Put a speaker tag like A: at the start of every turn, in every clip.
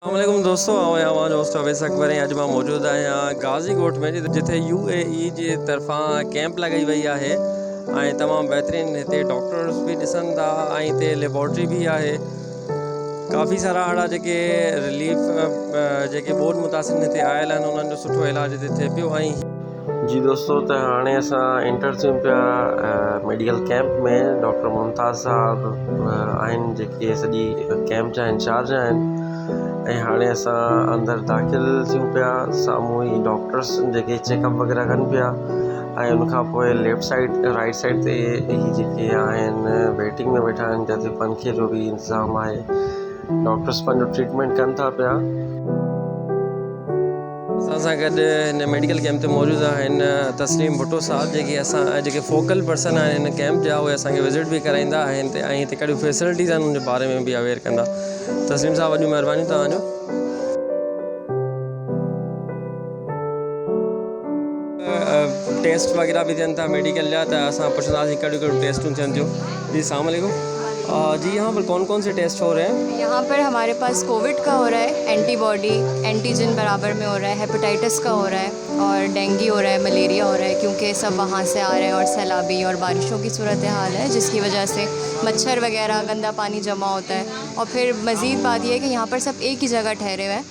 A: اسلام عليڪم دوستو آئون آهيان اوهان جو هوسٽ اويس اڪبر ۽ اڄ مان موجود آهيان غازي ڳوٺ ۾ جتي يو اي اي جي طرفان ڪيمپ لڳائي وئي آهي ۽ تمام بهترين هتي ڊاڪٽرس به ڏسن ٿا ۽ هتي ليبارٽري به آهي ڪافي سارا اهڙا جيڪي رليف جيڪي ٻوڏ متاثرين هتي آيل آهن انهن جو سٺو علاج هتي ٿئي پيو ۽ جي دوستو ته هاڻي اسان انٽر ٿيون پيا ميڊيڪل ڪيمپ ۾ ڊاڪٽر ممتاز صاحب آهن جيڪي سڄي ڪيمپ جا انچارج آهن ۽ هاڻي اسان اندر داخل ٿيون پيا سامهون ئي ڊاڪٽرس جيڪي چيڪ اپ وغيرہ ڪن پيا ۽ ان کان پوء ليفٽ سائيڊ رائٽ سائيڊ تي هي جيڪي آهن ويٽنگ ۾ ويٺا آهن جتي پنکي جو بि انتظام آهي ڊاڪٽرس پنهنجو ٽريٽمينٽ ڪن ٿا پيا اسان سان گڏ هن ميڊيڪل ڪيمپ تي موجود آهن تسليم ڀٽو صاحب جيڪي اسان جيڪي فوڪل پرسن آهن هن ڪيمپ جا اهي اسان کي وزٽ به ڪرائيندا آهن ۽ هتي ڪهڙيون فيسلٽيز آهن ان جي باري ۾ به اويئر ڪندا تسليم صاحب وڏيون مهربانيون توهان جو ٽيسٽ وغيره به ٿين ٿا ميڊيڪل جا ته اسان پڇنداسين ڪهڙيون ڪهڙيون ٽيسٽون ٿين ٿيون جي السلام عليڪم جي يهان پر ڪون ڪون سي ٽيسٽ هو رهي هين يهان پر هماري پاس
B: ڪووڊ ڪا هو رها هي اينٽي باڊي اينٽيجن برابر ۾ هو رها هي هيپاٽائٽس ڪا هو رها هي اور ڊينگي هو رها هي مليريا هو رها هي ڪيونڪه هي سڀ وهان سي آ رهي هين اور سيلابي اور بارشون ڪي صورت حال هي جس ڪي وجه سي مڇر وغيره گندا پاني جمع هوتا هي اور ڦر مزيد بات يي هي ڪي يهان پر سڀ ايڪ هي جگهه ٺهري هين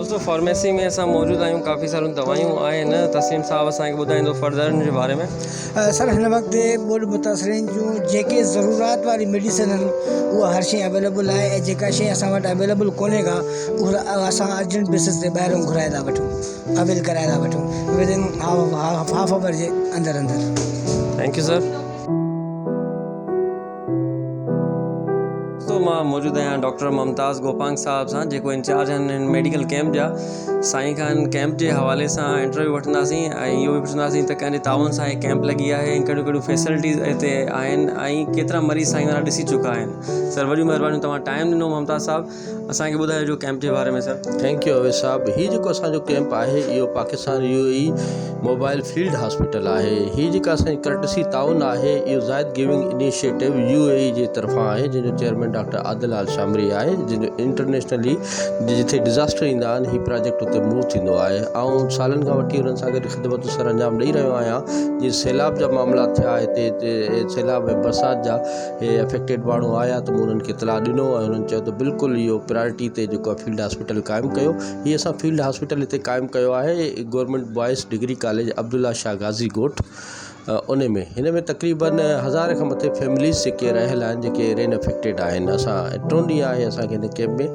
A: دوستو فارميسي ۾ اسان موجود آهيون ڪافي ساريون دوائيون آهن تسليم صاحب اسان کي ٻڌائيندو فردر ان جي باري ۾ سر هن وقت
C: ٻوڏ متاثرين جون جيڪي ضرورت واري ميڊيسن آهن اها هر شيء اويليبل آهي ۽ جيڪا شيء اسان وٽ اويليبل ڪونهي ڪا اها اسان ارجنٽ بيسس تي ٻاهران گهرائي ٿا وٺون اويل ڪرائي ٿا وٺون ودن هاف هاف آور جي اندر اندر ٿينڪ يو سر
A: تو مان موجود آهيان ڊاڪٽر ممتاز گوپانگ صاحب سان جيڪو انچارج آهن هن ميڊيڪل ڪيمپ جا سائين کان هن ڪيمپ جي حوالي سان انٽرويو وٺنداسين ۽ اهو به پڇنداسين ته ڪنهن جي تعاون سان هي ڪيمپ لڳي آهي ۽ ڪهڙيون ڪهڙيون فيسلٽيز هتي آهن ۽ ڪيترا مريض سائين وارا ڏسي چڪا آهن سر وڏيون مهربانيون توهان ٽائيم ڏنو ممتاز صاحب اسان کي ٻڌايو جو ڪئمپ جي باري ۾ سر. ٿينڪ يو اويس صاحب
D: هي جيڪو اسان جو ڪئمپ آهي اهو Pakistan U A E mobile field hospital آهي هي جيڪا اسان جي ڪرٽسي تعاون آهي اهو Zayed giving initiative U A E جي طرفان آهي جنهن جو chairman doctor Adil Al Shamri آهي جنهن جو انٽرنيشنلي جتي ڊزاسٽر ايندا آهن هي پراجيڪٽ اتي موو ٿيندو آهي آئون سالن کان وٺي انهن سان گڏ خدمتون سر انجام ڏئي رهيو آهيان جيئن سيلاب جا معاملا ٿيا هتي سيلاب ۽ برسات جا هي افيڪٽيڊ ماڻهو آيا ته مون انهن کي اطلاع ڏنو ۽ انهن چيو ته بلڪل اهو پرايرٽي تي جيڪو آهي فيلڊ هاسپيٽل قائم ڪيو هي اسان فيلڊ هاسپيٽل هتي قائم ڪيو آهي government boys degree college Abdullah Shah Ghazi ڳوٺ انهي ۾ هن ۾ تقريبن هزار کان مٿي فيمليز جيڪي رهيل آهن جيڪي رين افيڪٽيڊ آهن اسان ٽيون ڏينهن آهي اسان کي هن ڪيمپ ۾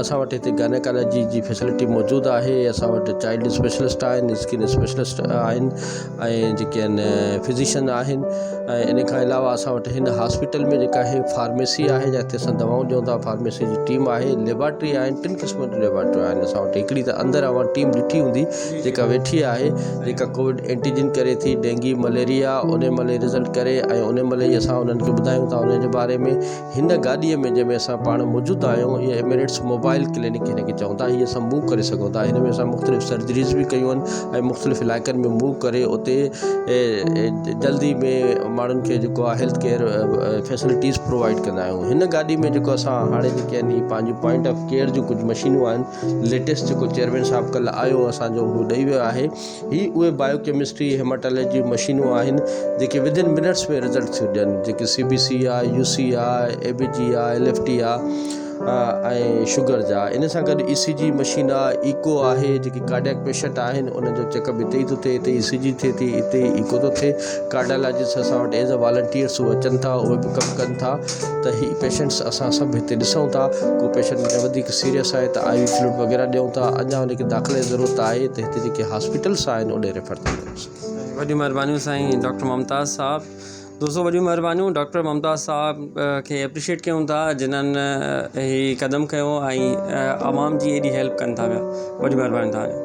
D: اسان وٽ هتي گائنيڪالاجي جي فيسلٽي موجود آهي اسان وٽ چائلڊ اسپيشلسٽ آهن اسڪن اسپيشلسٽ آهن ۽ جيڪي ان فزيشن آهن ۽ ان کان علاوه اسان وٽ هن هاسپيٽل ۾ جيڪا هي فارميسي آهي جتي اسان دوائون ڏيون ٿا فارميسي جي ٽيم آهي ليبارٽري آهي ٽن قسمن جون ليبارٽريون آهن اسان وٽ هڪڙي ته اندر اوهان ٽيم ڏٺي هوندي جيڪا ويٺي آهي جيڪا ڪووڊ اينٽيجن ڪري ٿي ڊينگي مليريا ان مليريا رزلٽ ڪري ۽ ان مليريا اسان انهن کي ٻڌايون ٿا انهن جي باري ۾ هن گاڏيء ۾ جنهن ۾ اسان پاڻ موجود آهيون اهي ايمريٽس موبائيل ڪلينڪ هن کي چون ٿا هي اسان موو ڪري سگهون ٿا هن ۾ اسان مختلف سرجريز به ڪيون آهن ۽ مختلف علائقن ۾ موو ڪري اتي جلدي ۾ ماڻهن کي جيڪو آهي هيلٿ ڪيئر فيسلٽيز پرووائيڊ ڪندا آهيون هن گاڏي ۾ جيڪو اسان هاڻي جيڪي آهن هي پنهنجون پوائنٽ آف ڪيئر جون ڪجهه مشينون آهن ليٽيسٽ جيڪو چيئرمين صاحب ڪل آيو اسانجو هو ڏئي ويو آهي هي اهي بايو ڪيمسٽري هيماٽالاجي جون مشينون آهن جيڪي ودن منٽس ۾ رزلٽ ٿيون ڏين جيڪي C B C I U C I E B G I L F T I ۽ sugar جا ان سان گڏ اي سي جي مشين آء ايڪو آهي جيڪي ڪارڊياڪ پيشنٽ آهن انهن جو چيڪ اپ هتي ئي ٿو ٿئي هتي اي سي جي ٿئي ٿي هتي ئي ايڪو ٿو ٿئي ڪارڊالاجسٽ اسان وٽ ايز اي والنٽيئرس هو اچن ٿا اهي به ڪم ڪن ٿا ته هي پيشنٽس اسان سڀ هتي ڏسون ٿا ڪو پيشنٽ وڌيڪ سيريس آهي ته آء وي فلوئڊ وغيره ڏيون ٿا اڃا ان کي داخلي جي ضرورت آهي ته جيڪي هاسپيٽلس آهن اوڏي ريفر ٿي ڪريوسين. وڏيون مھربانيون سائين
A: ڊاڪٽر ممتاز صاحب. دوستو وڏيون مھربانيون ڊاڪٽر ممتاز صاحب کي اپريشيٽ ڪيون ٿا جنھن ھي قدم کنيو ۽ عوام جي ايڏي ھيلپ ڪن ٿا پيا وڏيون مھربانيون توھان جون.